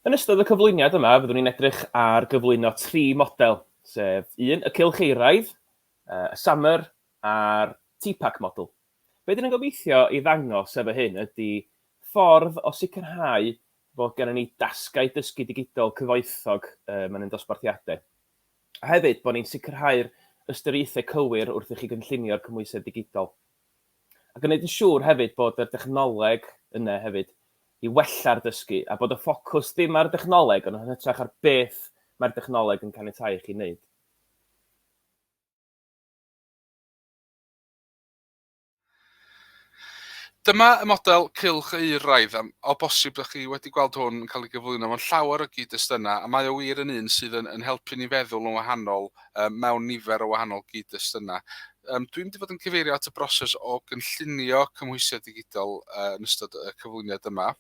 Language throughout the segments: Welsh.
Yn ystod y cyflwyniad yma, fyddwn ni'n edrych ar gyflwyno tri model, sef un, y cylch eiraidd, y summer a'r TPAC model. Be dyn ni'n gobeithio i ddangos efo hyn ydy ffordd o sicrhau bod gennym ni dasgau dysgu digidol cyfoethog um, yn ein dosbarthiadau. a hefyd bod ni'n sicrhau'r ystyriaethau cywir wrth i chi gynllunio'r cymhwysedd digidol. A gwneud yn siŵr hefyd bod y dechnoleg yna hefyd i wella'r dysgu a bod y ffocws ddim ar y dechnoleg ond yn hytrach ar beth mae'r dechnoleg yn caniatáu i chi wneud. Dyma y model cylch euraidd, a o bosib ydych chi wedi gweld hwn yn cael ei gyflwyno mewn llawer o gyd-destunau, a mae o wir yn un sydd yn helpu ni feddwl yn wahanol mewn nifer o wahanol gyd-destunau. Dwi'n mynd i fod yn cyfeirio at y broses o gynllunio cymhwysiad digidol yn ystod y cyflwyniad yma.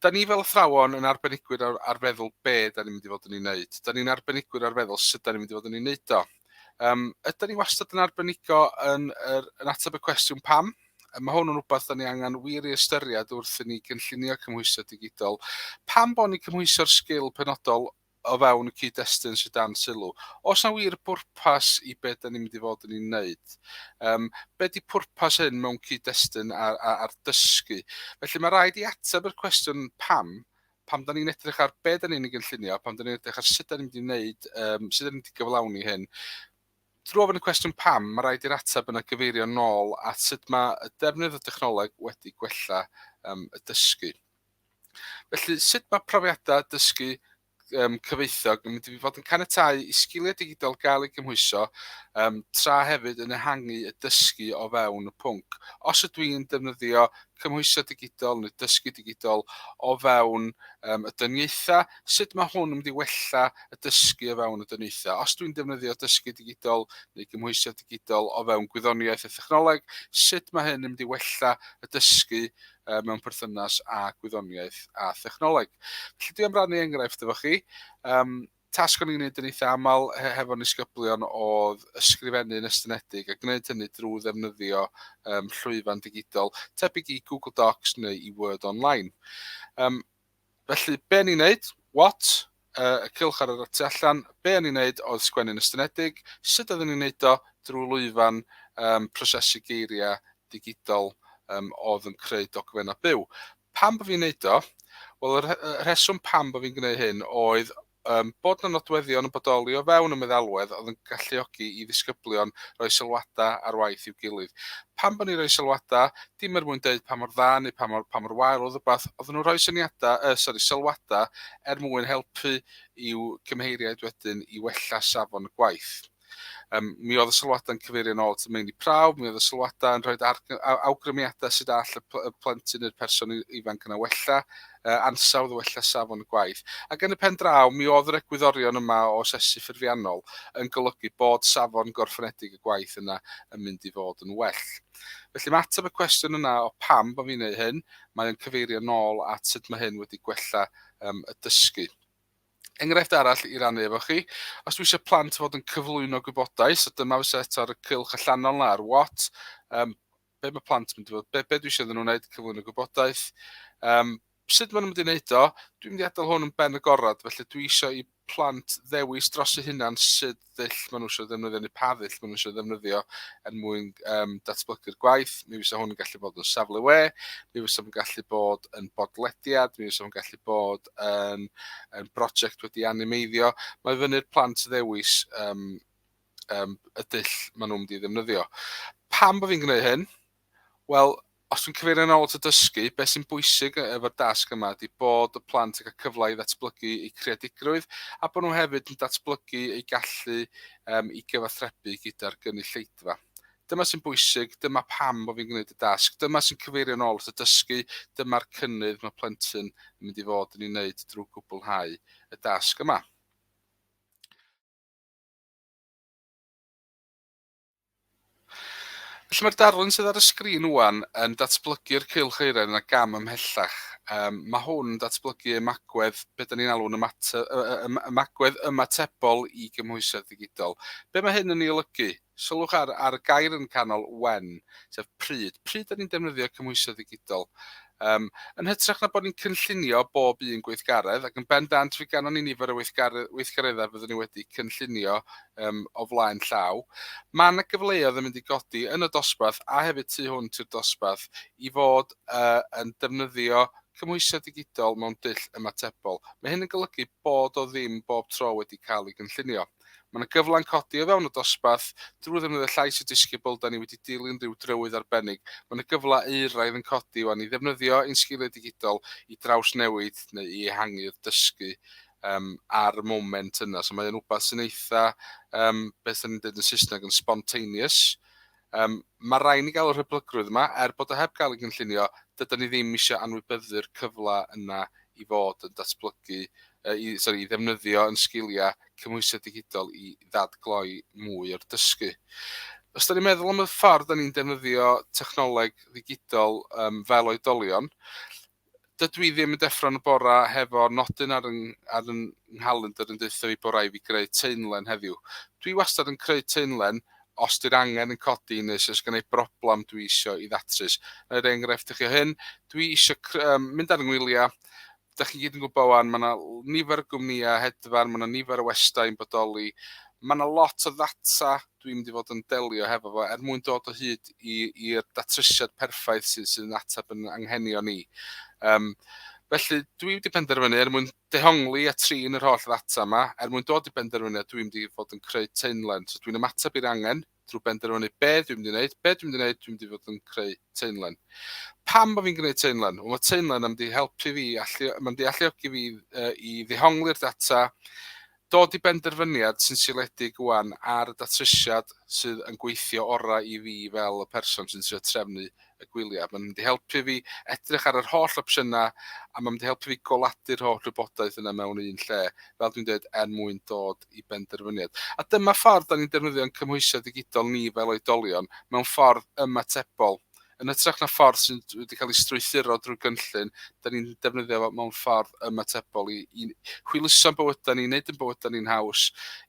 Da ni fel athrawon yn arbenigwyr ar, ar feddwl be da ni'n mynd i fod yn ei wneud. Da ni'n arbenigwyr ar feddwl sut da ni'n mynd i fod yn ei wneud o. Um, ydy ni wastad yn arbenigo yn, yn, yn ateb y cwestiwn pam? Mae hwn yn rhywbeth da ni angen wir i ystyried wrth i ni gynllunio cymhwysedd digidol. Pam bod ni'n cymhwyso'r sgil penodol o fewn y cyd-destun sydd dan sylw. Os na wir bwrpas i beth da ni'n mynd i fod yn ei wneud, um, be di pwrpas hyn mewn cyd-destun ar, ar, ar dysgu? Felly mae rhaid i ateb yr cwestiwn pam, pam da ni'n edrych ar be da ni'n ei gynllunio, pam da ni'n edrych ar sut da ni'n mynd i wneud, um, sut da ni'n mynd i gyflawni hyn, Drwy ofyn y cwestiwn pam, mae rhaid i'r ateb yna gyfeirio nôl at sut mae y defnydd o dechnoleg wedi gwella um, y dysgu. Felly, sut mae profiadau dysgu um, cyfeithiog yn mynd i fod yn canetau i sgiliau digidol gael ei gymhwyso um, tra hefyd yn ehangu y dysgu o fewn y pwnc. Os ydw i'n defnyddio cymhwyso digidol neu dysgu digidol o fewn um, y dyniaethau, sut mae hwn yn mynd i wella y dysgu o fewn y dyniaethau? Os dwi'n defnyddio dysgu digidol neu gymhwyso digidol o fewn gwyddoniaeth a thechnoleg, sut mae hyn yn mynd i wella y dysgu uh, mewn perthynas â gwyddoniaeth a thechnoleg. Felly dwi am rannu enghraifft efo chi. Um, tasg o'n i'n gwneud yn eitha aml hefo nisgyblion oedd ysgrifennu yn estynedig a gwneud hynny drwy ddefnyddio um, llwyfan digidol tebyg i Google Docs neu i Word Online. Um, Felly, be o'n i'n neud? What? Uh, y cilch ar yr tu allan. Be o'n i'n neud oedd sgwennu'n ystynedig. Sut oeddwn i'n neud o? Drwy lwyfan um, prosesu geiriau digidol um, oedd yn creu dogfennau byw. Pam bod fi'n neud o? Wel, y rheswm pam bod fi'n gwneud hyn oedd um, bod yna nodweddion yn bodoli o fewn y meddalwedd oedd yn galluogi i ddisgyblion roi sylwadau ar waith i'w gilydd. Pan bod ni'n rhoi sylwadau, dim er mwyn dweud pa mor dda neu pa mor, pa mor wael oedd rhywbeth, oedd nhw'n rhoi syniadau, uh, sorry, sylwadau er mwyn helpu i'w cymheiriaid wedyn i wella safon y gwaith. Um, mi oedd y sylwadau yn cyfeirio yn ôl at y meini prawf, mi oedd y sylwadau yn rhoi awgrymiadau sydd all y, pl y plentyn neu'r person ifanc yna wella, uh, ansawdd o wella safon y gwaith. Ac yn y pen draw, mi oedd yr egwyddorion yma o asesu ffurfiannol yn golygu bod safon gorffenedig y gwaith yna yn mynd i fod yn well. Felly mae ateb y cwestiwn yna o pam bod fi'n ei hyn, mae'n cyfeirio nôl at sut mae hyn wedi gwella um, y dysgu. Enghraifft arall i rannu efo chi, os dwi eisiau plant fod yn cyflwyno gwybodaeth, so dyma fysa eto ar y cylch allanol na ar what, um, be mae plant yn mynd i fod, be, be dwi eisiau iddyn nhw wneud, cyflwyno gwybodaeth. Um, sut maen nhw'n mynd i wneud o? Dwi'n mynd i adael hwn yn ben y gorad, felly dwi eisiau i plant ddewis dros eu hunan sydd ddull maen nhw eisiau ddefnyddio neu pa ddull maen nhw eisiau ddefnyddio er mwyn um, datblygu'r gwaith. Mi fysa hwn yn gallu bod yn safle we, mi fysa hwn yn gallu bod yn bodlediad, mi fysa hwn yn gallu bod yn, yn brosiect wedi animeiddio. Mae fyny'r plant ddewis um, um, y dull maen nhw'n mynd i ddefnyddio. Pam bod fi'n gwneud hyn? Wel, os dwi'n cyfeirio yn ôl at y dysgu, beth sy'n bwysig e- efo'r dasg yma ydy bod y plant yn cael cyfle i ddatblygu eu creadigrwydd a bod nhw hefyd yn datblygu eu gallu um, i gyfathrebu gyda'r gynulleidfa. Dyma sy'n bwysig, dyma pam bod fi'n gwneud y dasg, dyma sy'n cyfeirio yn ôl at y dysgu, dyma'r cynnydd mae plentyn yn mynd i fod yn ei wneud drwy gwblhau y dasg yma. Felly mae'r darlun sydd ar y sgrin wwan yn datblygu'r cylch eiren yna gam ymhellach. Um, mae hwn yn datblygu ymagwedd, beth dyn ni'n alw'n ymagwedd ymatebol i gymhwysedd digidol. Be mae hyn yn ei olygu? Sylwch ar, ar y gair yn canol when, sef pryd. Pryd dyn ni'n defnyddio cymhwysedd digidol? Yym, yn hytrach na bod ni'n cynllunio bob un gweithgaredd, ac yn bendant fe ganon ni nifer o weithgaredd, weithgareddau fyddwn ni wedi cynllunio um, o flaen llaw, mae yna gyfleoedd yn mynd i godi yn y dosbarth a hefyd tu hwnt i'r dosbarth i fod uh, yn defnyddio cymhwysedd digidol mewn dull ymatebol. Mae hyn yn golygu bod o ddim bob tro wedi cael ei gynllunio. Mae yna gyfla'n codi o fewn y dosbarth drwy ddefnyddio llais y disgybl, da ni wedi dilyn rhyw drywydd arbennig. Mae yna gyfla euraidd yn codi wan i ddefnyddio ein sgiliau digidol i drawsnewid neu i ehangu'r dysgu um, ar y moment yna. So mae yna rhywbeth sy'n eitha, um, beth yna'n dweud yn Saesneg, yn spontaneous, Yym, ma' rai' ni gael y rhyblygrwydd yma, er bod o heb gael ei gynllunio, dydan ni ddim isio anwybyddu'r cyfle yna i fod yn datblygu, yy i, sori, i ddefnyddio yn sgiliau cymhwysiad digidol i ddadgloi mwy o'r dysgu. Os da ni'n meddwl am y ffordd da ni'n defnyddio technoleg ddigidol um, fel oedolion, dydw i ddim yn deffro'n y bora hefo nodyn ar yn, ar yn nghalendr yn deutha fi bod rai fi greu teunlen heddiw. Dwi wastad yn creu teunlen os di'r angen yn codi neu os oes gen i broblem dwi eisiau i ddatrys. Yn yr enghraifft chi o hyn, dwi eisiau um, mynd ar yngwyliau, da chi gyd yn gwybod wan, mae yna nifer o gwmnïau hedfan, mae yna nifer o westau yn bodoli, mae yna lot o ddata dwi'n mynd i fod yn delio hefo fo er mwyn dod o hyd i'r datrysiad perffaith sydd, sydd yn ateb yn anghenion ni. Um, felly dwi wedi penderfynu er mwyn dehongli a trin yr holl ddata yma, er mwyn dod i benderfyniad dwi'n mynd i fod yn creu teunlen. So dwi'n ymateb i'r angen drwy benderfynu be dwi'n mynd i wneud, be dwi'n mynd i wneud, dwi'n mynd i fod yn creu teunlen. Pam bod fi'n gwneud teunlen? Wel, mae teunlen yn mynd i helpu fi, allu, mae'n mynd i alluogi fi uh, i ddehongli'r data, Dod i benderfyniad sy'n seiliedig ŵan ar y datrysiad sydd yn gweithio orau i fi fel y person sy'n trio trefnu y gwyliau. Mae'n mynd i helpu fi edrych ar yr holl opsiynau a mae'n mynd i helpu fi goladu'r holl wybodaeth yna mewn un lle, fel dwi'n dweud, er mwyn dod i benderfyniad. A dyma ffordd da ni'n defnyddio'n cymhwysiau digidol ni fel oedolion mewn ffordd ymatebol. Yn hytrach na ffordd sy'n wedi cael ei strwythuro drwy gynllun, da ni'n defnyddio fo mewn ffordd ymatebol i, i hwyluso'n bywydau ni, wneud yn bywydau ni'n haws,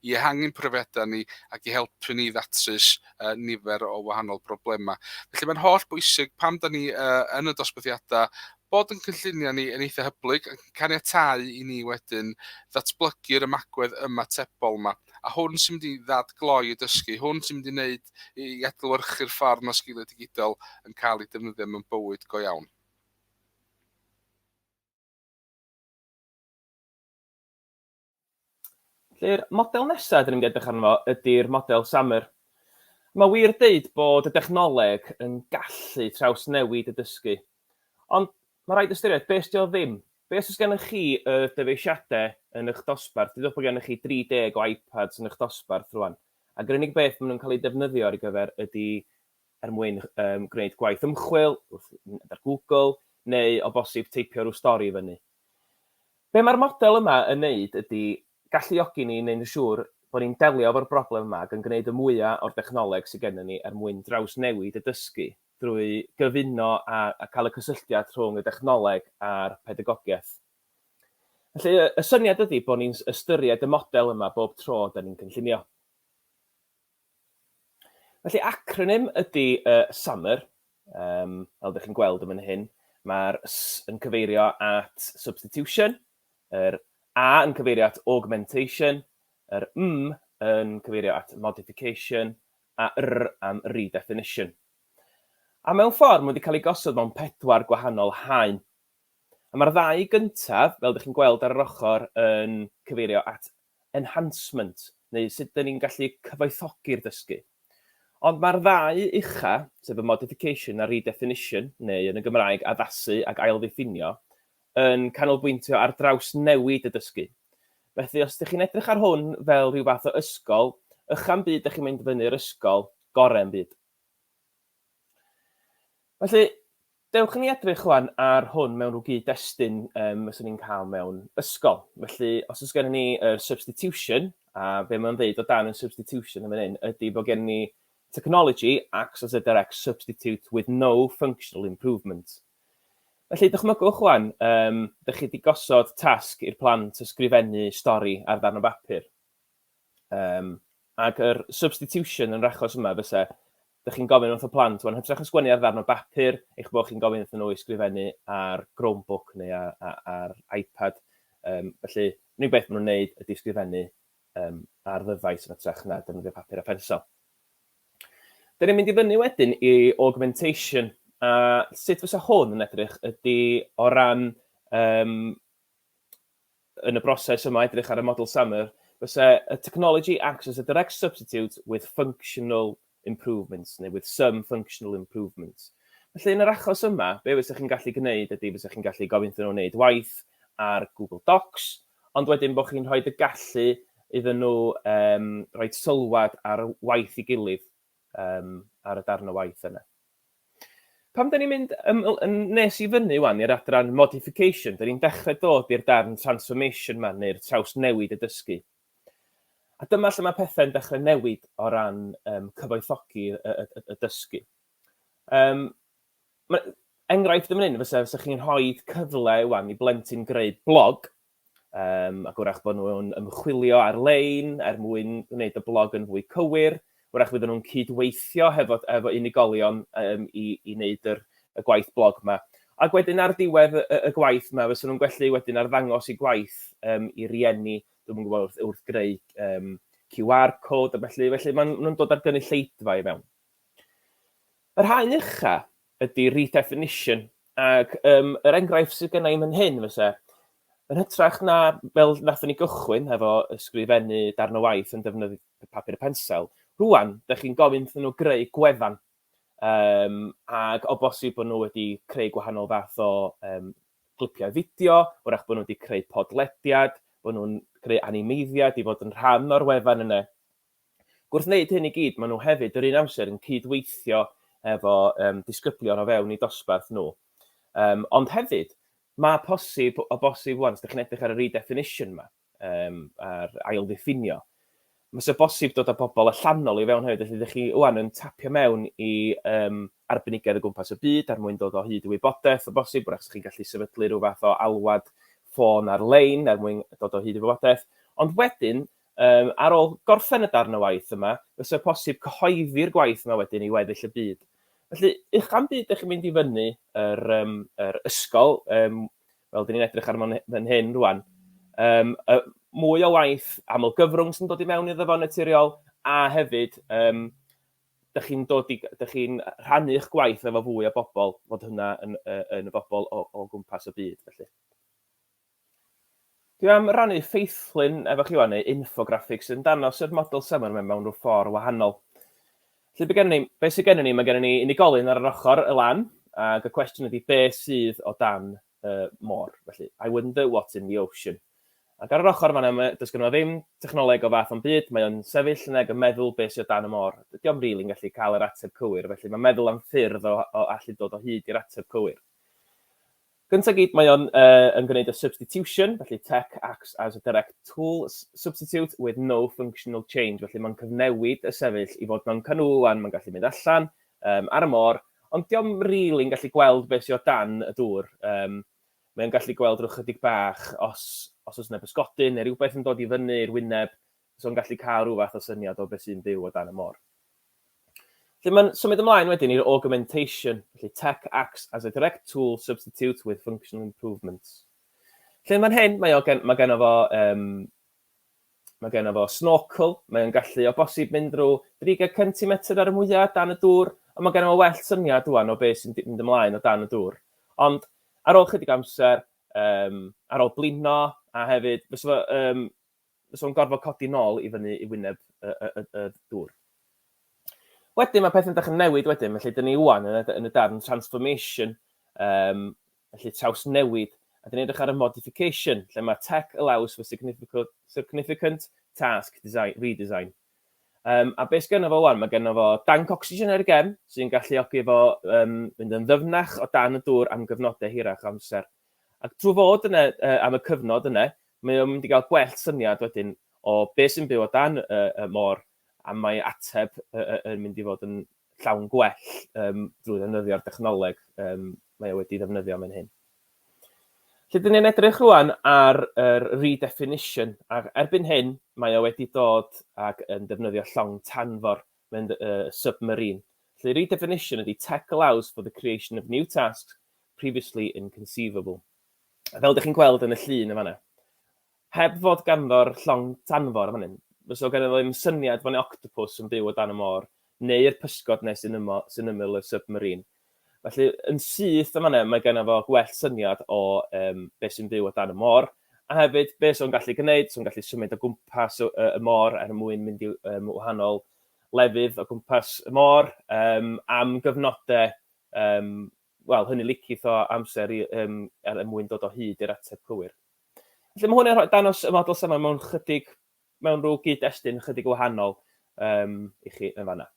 i ehangu'n profiadau ni ac i helpu ni ddatrys uh, nifer o wahanol broblemau. Felly mae'n holl bwysig pam da ni uh, yn y dosbarthiadau bod yn cynlluniau ni yn eitha hyblyg ac yn caniatau i ni wedyn ddatblygu'r ymagwedd ymatebol yma. A hwn sy'n mynd i ddadgloi y dysgu, hwn sy'n mynd i wneud i adlewyrchu'r ffordd mae sgiliau digidol yn cael eu defnyddio mewn bywyd go iawn. Felly'r model nesaf dyn ni'n edrych arno fo ydy'r model Summer. Mae wir deud bod y dechnoleg yn gallu trawsnewid y dysgu. Ond mae rhaid ystyried beth ydy o ddim. Be os oes gennych chi y dyfeisiadau yn eich dosbarth? Dydwch bod gennych chi 30 o iPads yn eich dosbarth rwan. Ac yr unig beth maen nhw'n cael eu defnyddio ar ei gyfer ydy er mwyn um, gwneud gwaith ymchwil, wrth fynd ar Google, neu o bosib teipio rhyw stori i fyny. Be mae'r model yma yn wneud ydy galluogi ni neu'n siŵr bod ni'n delio efo'r broblem yma ac yn gwneud y mwyaf o'r dechnoleg sydd gennym ni er mwyn drawsnewid y dysgu drwy gyfuno a, a cael y cysylltiad rhwng y dechnoleg a'r pedagogiaeth. Felly, y syniad ydy bod ni'n ystyried y model yma bob tro da ni'n cynllunio. Felly, acronym ydy uh, SAMR, um, fel ydych chi'n gweld yn fan hyn. Mae'r S yn cyfeirio at substitution, yr A yn cyfeirio at augmentation, yr M yn cyfeirio at modification, a R am redefinition. A mewn ffordd, mae wedi cael ei gosod mewn pedwar gwahanol haen. A mae'r ddau gyntaf, fel dych chi'n gweld ar yr ochr, yn cyfeirio at enhancement, neu sut dyn ni'n gallu cyfoethogi'r dysgu. Ond mae'r ddau ucha, sef y modification a redefinition, neu yn y Gymraeg addasu ac ailddiffinio, yn canolbwyntio ar drawsnewid y dysgu. Felly, os ydych chi'n edrych ar hwn fel rhyw fath o ysgol, ychan byd ydych chi'n mynd fyny'r ysgol gorau yn byd. Felly, dewch i ni edrych rwan ar hwn mewn rhyw gyd-destun um, fyswn ni'n cael mewn ysgol. Felly, os oes gennym ni y uh, substitution, a be mae'n dweud o dan y substitution yn fan hyn, ydy bod gennym ni technology acts as a direct substitute with no functional improvement. Felly, dychmygwch rwan, um, dych chi wedi gosod tasg i'r plant ysgrifennu stori ar ddarn o bapur. Um, ac yr substitution yn yr achos yma fysa Dych chi'n gofyn wrth y plant, wel, yn hytrach na sgwennu ar ddarn o bapur, eich bod chi'n gofyn iddyn nhw i sgrifennu ar Chromebook neu ar iPad. Felly, yr unig beth maen nhw'n gwneud ydy sgrifennu ar ddyfais yn hytrach na defnyddio papur a phensel. Dyn ni'n mynd i fyny wedyn i augmentation, a sut fysa hwn yn edrych ydy o ran yn y broses yma, edrych ar y model SAMR, fyse y technology acts as a direct substitute with functional improvements, neu with some functional improvements. Felly, yn yr achos yma, be fysa chi'n gallu gwneud ydy fysa chi'n gallu gofyn iddyn nhw wneud waith ar Google Docs, ond wedyn bod chi'n rhoi y gallu iddyn nhw um, rhoi sylwad ar waith i gilydd. um, ar y darn o waith yna. Pam da ni'n mynd um, nes i fyny wan i'r adran modification, da ni'n dechrau dod i'r darn transformation man neu'r traws newid y dysgu. A dyma lle mae pethau'n dechrau newid o ran um, cyfoethogi y, y, y, y dysgu. Um, enghraifft yn mynd, fysa, fysa chi'n rhoi cyfle wan i blentyn greu blog Yym, ac wrach bod nhw'n ymchwilio ar-lein er mwyn gwneud y blog yn fwy cywir. Wrach fydden nhw'n cyd-weithio hefo efo unigolion yym i i wneud yr y gwaith blog 'ma. Ac wedyn ar diwedd y y gwaith 'ma fysen nhw'n gwellu wedyn arddangos eu gwaith yym i rieni, dwi'm yn gwybod wrth wrth greu yym QR code a felly, felly maen nhw'n dod â'r gynulleidfa i fewn. Yr haen ucha, ydy redefinition ac yym yr enghraifft sydd genna i'm yn hyn fyse yn hytrach na fel nathon ni gychwyn efo ysgrifennu darn o waith yn defnyddio papur a pensel, rwan, da chi'n gofyn iddyn nhw greu gwefan um, ac o bosib bod nhw wedi creu gwahanol fath o um, glipiau fideo, wrach bod nhw wedi creu podlediad, bod nhw'n creu animeiddiad i fod yn rhan o'r wefan yna. Ac wrth wneud hyn i gyd, maen nhw hefyd yr un amser yn cyd-weithio efo um, disgyblion o fewn eu dosbarth nhw. Um, ond hefyd, mae posib, o bosib wan, os ydych chi'n edrych ar y redefinition yma, um, a'r ail ddiffinio, mae sy'n bosib dod â pobl allanol i fewn hefyd, felly ydych chi wan yn tapio mewn i um, arbenigedd o gwmpas y byd er mwyn dod o hyd i wybodaeth o bosib, wrach chi'n gallu sefydlu rhyw fath o alwad ffôn ar-lein er mwyn dod o hyd i wybodaeth, ond wedyn Yym, ar ôl gorffen y darn o waith yma, fysa posib cyhoeddi'r gwaith yma wedyn i weddill y byd. Felly, uchan byd ydych chi'n mynd i fyny yr, um, yr ysgol, um, fel dyn ni'n edrych ar fan hyn rwan, um, y, mwy o waith aml gyfrwng sy'n dod i mewn iddo fo'n naturiol, a hefyd, um, dych chi'n dod i, dych chi'n rhannu eich gwaith efo fwy o bobl, fod hynna yn, yn y bobl o, o gwmpas y byd, felly. Dwi am rannu ffeithlun efo chi wan, neu infographic, sydd yn danos yr model seminar ma mewn rhyw ffordd wahanol. Felly be gennym ni? Be sydd gennym ni? Mae gennym ni unigolyn ar yr ochr y lan, ac y cwestiwn ydy be sydd o dan y môr? Felly, I wonder what's in the ocean. Ac ar yr ochr fanna, mae, does gennym ni ddim technoleg o fath o'n byd, mae o'n sefyll yn ag yn meddwl be sydd o dan y môr. Dydy o'm rili'n gallu cael yr ateb cywir, felly mae'n meddwl am ffyrdd o, o allu dod o hyd i'r ateb cywir. Gyntaf gyd, mae o'n yn gwneud y substitution, felly tech acts as a direct tool substitute with no functional change, felly mae'n cyfnewid y sefyll i fod mewn canŵlan, mae'n gallu mynd allan, um, ar y môr, ond diolch yn rili'n yn gallu gweld beth sy'n o dan y dŵr. Um, mae'n gallu gweld rhywch ychydig bach os, os oes yna bysgodyn neu rhywbeth yn dod i fyny i'r wyneb, So yn gallu cael rhyw fath o syniad o beth sy'n byw o dan y môr. Felly mae'n symud ymlaen wedyn i'r augmentation, felly tech acts as a direct tool substitute with functional improvements. Felly mae'n hyn, mae, o gen, mae gen o fo um, Mae gen fo snorkel, mae'n gallu o bosib mynd drwy 30 cm ar y mwyaf dan y dŵr, ond mae gen fo well syniad rwan o beth sy'n mynd ymlaen o dan y dŵr. Ond ar ôl chydig amser, um, ar ôl blino, a hefyd, fes fo, um, fysa fo'n gorfod codi nôl i fyny i wyneb y, y, y, y dŵr. Wedyn mae pethau'n dechrau newid wedyn, felly dyn ni wwan yn, yn y darn transformation, um, felly traws newid, a dyn ni'n edrych ar y modification, lle mae tech allows for significant, significant task design, redesign. Um, a beth gen fo wan? Mae gen fo danc ocsigen ar y gem, sy'n galluogi fo um, mynd yn ddyfnach o dan y dŵr am gyfnodau hirach amser. Ac drwy fod yna am y cyfnod yna, mae o'n mynd i gael gwell syniad wedyn o beth sy'n byw o dan y môr a mae ateb yn mynd i fod yn llawn gwell drwy ddefnyddio'r dechnoleg mae o wedi ddefnyddio mewn hyn. Lle dyn ni'n edrych rwan ar yr redefinition, ac erbyn hyn mae o wedi dod ac yn defnyddio llong tanfor, mae'n uh, submarine. Lle redefinition ydy tech allows for the creation of new tasks previously inconceivable. Fel dych chi'n gweld yn y llun yn fan 'na, heb fod ganddo'r llong tanfor yn fan hyn, fysa fo ganddo fo ddim syniad fod 'na octopws yn byw o dan y môr, neu'r pysgod 'ne sy'n ymo- sy'n ymyl y submarine. Felly, yn syth yn fan 'na, mae ganddo fo gwell syniad o um, beth sy'n byw o dan y môr, a hefyd beth sy'n gallu gwneud, sy'n gallu symud o gwmpas y, y môr er mwyn mynd i um, wahanol lefydd o gwmpas y môr um, am gyfnodau Yym, wel, hynny licith o amser i, yym, er er mwyn dod o hyd i'r ateb cywir. Felly mae hwn yn rhoi dangos y model safon mewn chydig, mewn rhyw gyd-destun ychydig o wahanol um, i chi yn fanna.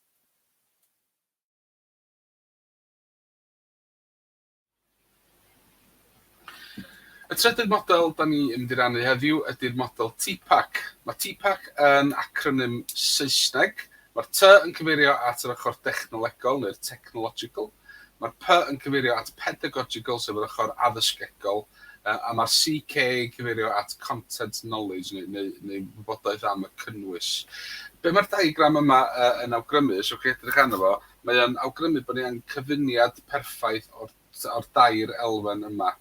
Y trydydd model da ni yn mynd i rannu heddiw ydy'r model TPAC. Mae TPAC yn acronym Saesneg. Mae'r T yn cyfeirio at yr ochr dechnolegol neu'r technological, mae'r P yn cyfeirio at pedagogical sef yr ochr addysgegol, a mae'r CK yn cyfeirio at content knowledge neu, neu, neu wybodaeth am y cynnwys. Be mae'r diagram yma yn awgrymu, os ywch chi edrych arno fo, mae o'n awgrymu bod ni angen cyfuniad perffaith o'r o'r dair elfen yma.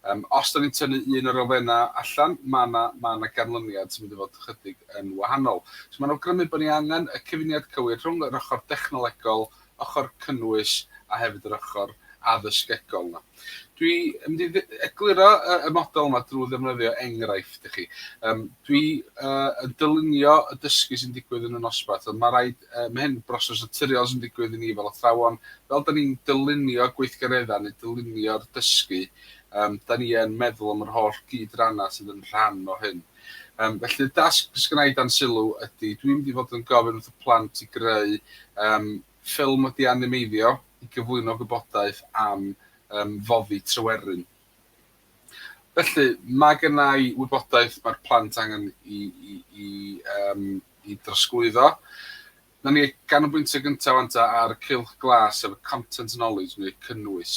Yym, os 'dan ni'n tynnu un o'r elfennau allan, ma' 'na ma' 'na ganlyniad sy'n mynd i fod chydig yn wahanol. So ma'n awgrymu bo' ni angen y cyfuniad cywir rhwng yr ochr dechnolegol, ochr cynnwys, a hefyd yr ochr addysgegol 'na. Dwi yn mynd i ddi- egluro y y model yma drw ddefnyddio enghraifft i chi. Yym, dwi yy yn dylunio y dysgu sy'n digwydd yn y nosbarth, ond ma' raid yy ma' hyn broses naturiol sy'n digwydd i ni fel athrawon, fel dan ni'n dylunio gweithgareddau neu dylunio'r dysgu, yym, dan ni yn meddwl am yr holl gyd-rannau sydd yn rhan o hyn. Yym, felly y dasg sydd gynna i dan sylw ydy, dwi'n mynd i fod yn gofyn wrth y plant i greu, yym, ffilm wedi animeiddio i gyflwyno gwybodaeth am, yym, foddi Tryweryn. Felly, mae gynna i wybodaeth mae'r plant angen i, i, i, yym, i drosglwyddo. Nawn ni ganolbwyntio gynta ŵan ta ar Cylch Glas sef y content knowledge neu cynnwys.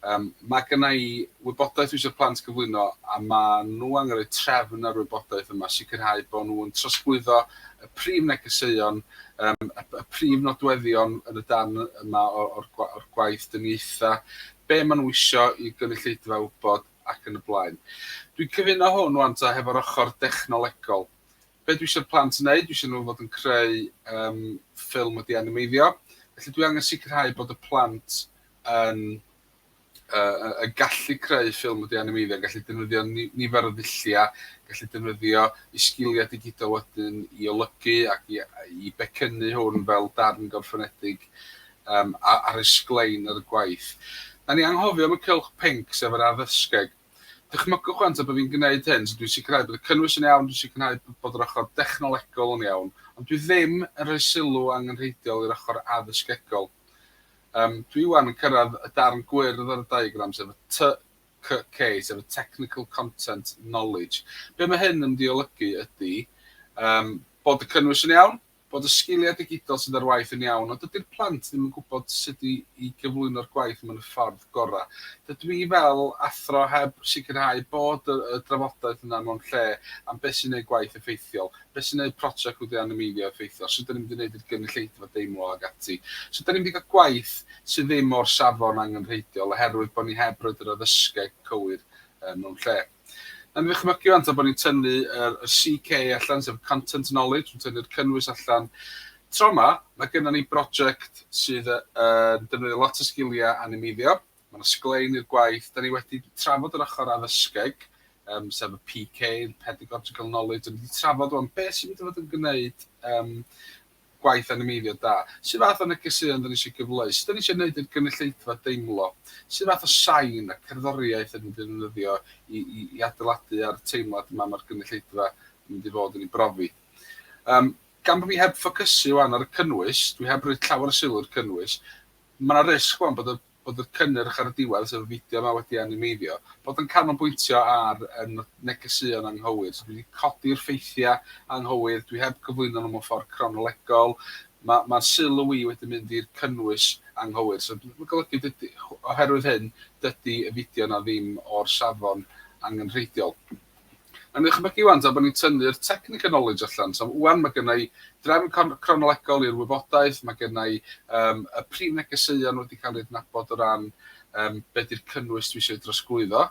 Yym ma' gynna i wybodaeth dwi isio'r plant gyflwyno a ma' nhw angen rhoi trefn ar wybodaeth yma, sicrhau bo' nhw yn trosglwyddo y prif negeseuon, yym y y prif nodweddion yn y darn yma o o'r gwa- o'r gwaith dyniaetha, be' ma' nhw isio i gynulleidfa wybod ac yn y blaen. Dwi'n cyfuno hwn ŵan ta hefo'r ochr dechnolegol. Be dwi isio'r plant wneud, dwi isio nhw fod yn creu ffilm wedi animeiddio, felly dwi angen sicrhau bod y plant yn yn gallu creu ffilm wedi animeiddio, yn gallu defnyddio nifer o ddulliau, gallu defnyddio eu sgiliau digidol wedyn i olygu ac i becynnu hwn fel darn gorffenedig ar eu sglein ar y gwaith. Da ni anghofio am y cylch pinc, sef yr addysgeg. Dychmygwch rŵan tra bod fi'n gwneud hyn, so dwi'n sicrhau bod y cynnwys yn iawn, dwi'n sicrhau bod yr ochr dechnolegol yn iawn, ond dwi ddim yn rhoi sylw angenrheidiol i'r ochr addysgegol. Yym, dwi ŵan yn cyrraedd y darn gwyrdd ar y diagram, sef y TCK, sef y Technical Content Knowledge. Be mae hyn yn mynd i olygu ydy, yym, bod y cynnwys yn iawn, bod y sgiliau digidol sydd ar waith yn iawn, ond dydy'r plant ddim yn gwybod sut i i gyflwyno'r gwaith mewn y ffordd gorau. Dydw i fel athro heb sicrhau bod y y drafodaeth yna mewn lle am beth sy'n neud gwaith effeithiol, beth sy'n neud project wedi animeiddio effeithiol, sut 'da ni'n mynd i neud i'r gynulleidfa deimlo ac ati. So 'da ni'n mynd i gael gwaith sydd ddim o'r safon angenrheidiol oherwydd bod ni heb roid yr addysgeg cywir yy mewn lle. Yn ddychmygu rŵan ta bod ni'n tynnu yr yr CK allan, sef y content knowledge, yn tynnu'r cynnwys allan. Tro ma, mae gynnon ni broject sydd yy yn defnyddio lot o sgilia animeiddio. Mae yna sglein i'r gwaith. Da ni wedi trafod yr ochr addysgeg, um, sef y PK, Pedagogical Knowledge, a ni wedi trafod rwan beth sy'n mynd i fod yn gwneud um, gwaith animeiddio da? Sut fath o negeseuon 'da ni isio gyfleu? Sut 'da ni isio neud i'r gynulleidfa deimlo? Sut fath o sain a cerddoriaeth 'da ni'n mynd i ddefnyddio i i i adeiladu ar y teimlad yma ma'r gynulleidfa yn mynd i fod yn ei brofi? Yym, gan bo' fi heb ffocysu ŵan ar y cynnwys, dwi heb roi llawer o sylw i'r cynnwys, ma' 'na risg ŵan bod y bod y cynnyrch ar y diwedd, sef y fideo yma, wedi animeiddio, bod yn canolbwyntio ar negeseuon anghywir. So dwi 'di codi'r ffeithiau anghywir, dwi heb gyflwyno nhw mewn ffordd cronolegol, ma' ma' sylw i wedi mynd i'r cynnwys anghywir. So ma'n golygu dydi... oherwydd hyn, dydi y fideo yna ddim o'r safon angenrheidiol. Yn ychmygu ŵan, tra bod ni'n tynnu'r technical knowledge allan, so ŵan mae gynna i drefn cronolegol i'r wybodaeth, mae gynna i yym y prif negeseuon wedi cael eu adnabod o ran yym be di'r cynnwys dwi eisiau ei drosglwyddo.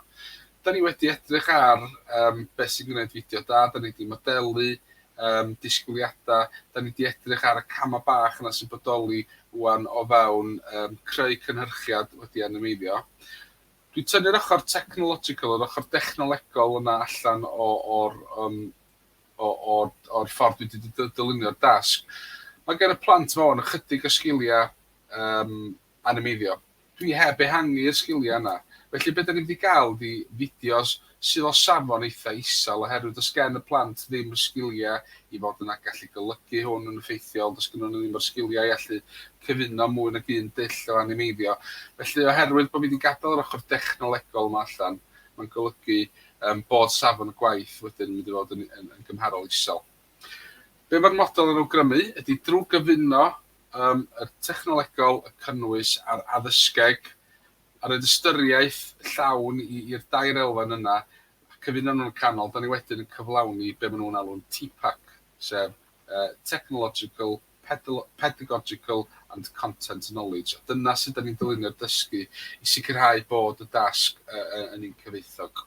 Da ni wedi edrych ar yym beth sy'n gwneud fideo da, da ni wedi modelu yym disgwyliadau, da ni wedi edrych ar y camau bach yna sy'n bodoli ŵan o fewn yym creu cynhyrchiad wedi animeiddio. Dwi'n tynnu'r ochr technological, yr ochr dechnolegol yna allan o o'r yym o o'r o'r ffordd dwi 'di dy- dylunio'r dasg. Ma' gen y plant 'ma ŵan ychydig o sgilia yym animeiddio. Dwi heb ehangu'r sgilia yna. Felly be' 'dan ni mynd i ga'l ydi fideos sydd o safon eitha' isel oherwydd does gen y plant ddim y sgiliau i fod yn a gallu golygu hwn yn effeithiol, does gennyn nhw ddim yr sgiliau i allu cyfuno mwy nag un dull o animeiddio. Felly oherwydd bod fi 'di gadael yr ochr dechnolegol yma allan, mae'n golygu yym bod safon y gwaith wedyn yn mynd i fod yn yn yn gymharol isel. Be mae'r model yn awgrymu ydy drwy gyfuno yym y technolegol, y cynnwys a'r addysgeg, a roid ystyriaeth llawn i'r dair elfen yna, cyfuno nhw'n y canol, dan ni wedyn yn cyflawni be maen nhw'n alw'n TPAC, sef Technological, Pedagogical and Content Knowledge, a dyna sut dan ni'n dylunio'r dysgu i sicrhau bod y dasg yn un cyfoethog.